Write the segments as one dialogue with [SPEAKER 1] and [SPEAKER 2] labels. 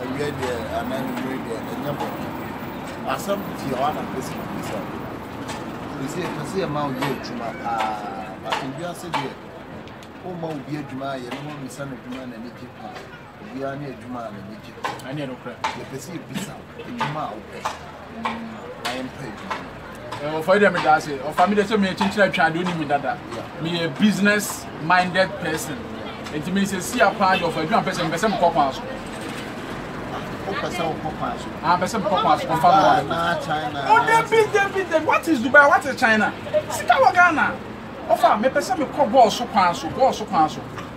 [SPEAKER 1] Awia deɛ anaa anwummere deɛ ɛnyɛ bɔ asɛm pii a wana pɛsi na bisa ɛsɛ ɛpɛ sɛ yɛma wo yɛ adwuma paa bata wiase deɛ woma obi adwuma a yɛne ho mmisa no adwuma na anigye paa obiara ne adwuma a n'anigye ɛne ɛnokorɛ yɛpɛ sɛ yɛbisa wo adwuma a wopɛ na yɛmpa adwuma no ɔfa yi dɛ meda ase ɔfa me dɛ sɛ meyɛ kyenkyena atwa adeɛ ɔni me dada meyɛ business minded person nti meyɛ sɛ sia paa de ɔfa adwuma mpɛ sɛ mpɛ sɛ mekɔ kwan so ɔpɛ sɛ wokɔ kwan so ampɛ sɛ mekɔ kwan so ɔfa me dada o dabi dabi dabi what is dubai what is china sika wɔ ghana ɔfa mepɛ sɛ mekɔ bɔɔl so kwan so bɔɔl so kwan so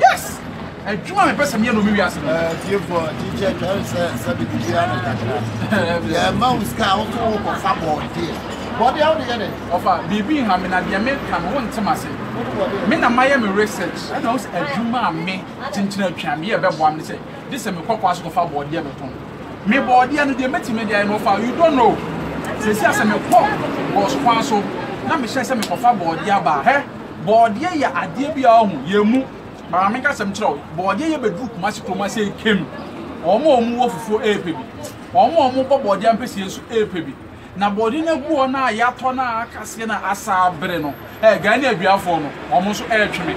[SPEAKER 1] Yes! Adwuma a mepɛ sɛ meyɛ no me wiase no. Eh, tiefo, kyikyɛ twɛre sɛ sɛ de biribiara ne kakra. Yɛma wo sika a wofo wo kɔfa bɔɔdeɛ. Bɔɔdeɛ a wode yɛ dɛ? Ɔfa, biribi nha me na deɛ meka no wonte m'ase. Me na mayɛ me research ɛna wo sɛ adwuma a me kyenkyen atwa meyɛ bɛboa me ne sɛ gye sɛ mekɔ kwa so kɔfa bɔɔdeɛ bɛtɔn. Me bɔɔdeɛ no deɛ mɛtumi de ayɛ no ɔfa, you don't know. Seesei a sɛ mekɔ bɔs kwan so na mehyɛ sɛ mekɔfa bɔɔdeɛ aba a, hɛ! Bɔɔdeɛ yɛ adeɛ bi a ɔho yɛ mu mara me kasɛm kyerɛ wo bɔɔdeɛ yɛ bɛduru kuma se kuroma sɛ kem wɔn a wɔn wɔ fufuo ɛɛpɛ bi wɔn a wɔn bɔ bɔɔdeɛ ampɛsie nso ɛɛpɛ bi na bɔɔdeɛ no agu hɔ no a yɛatɔ no a akaseɛ no a asa abere no ɛɛ Ghane aduafoɔ no wɔn nso ɛɛtwe me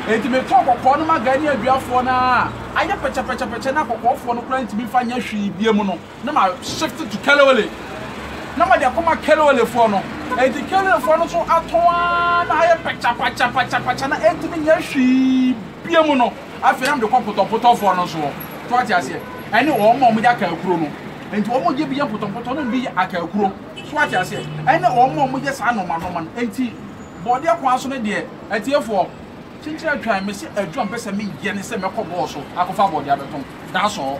[SPEAKER 1] enti metɔ kɔkɔɔ no ma Ghane aduafoɔ no a ayɛ pɛkyɛpɛkyɛpɛkyɛ na kɔkɔɔfoɔ no koraa ntumi mfa nyɛ hwee bie mu no Na ma shift to Kelowele na ma de akɔma Kelowele foɔ no enti Kelowele foɔ no nso atɔn ara na ayɛ pakyapakyapakyapakya na ɛntumi nyɛ hwee bia mu no afei na mede kɔ potɔpotɔ foɔ no nso hɔ to ate aseɛ ɛne wɔn ma wɔn yɛ akaakuro no enti wɔn yɛ bi yɛ mpotɔmpotɔ na bi yɛ akaakuro so ate aseɛ ɛne wɔn ma wɔn yɛ saa nɔɔma nɔɔma no enti bɔɔdeɛ kwan so no deɛ atiefoɔ kyenkyere atwan me sɛ adwuma mpɛ sɛ meyɛ ne sɛ mɛkɔ bɔɔso akɔfa bɔɔdeɛ abɛtɔn that's all.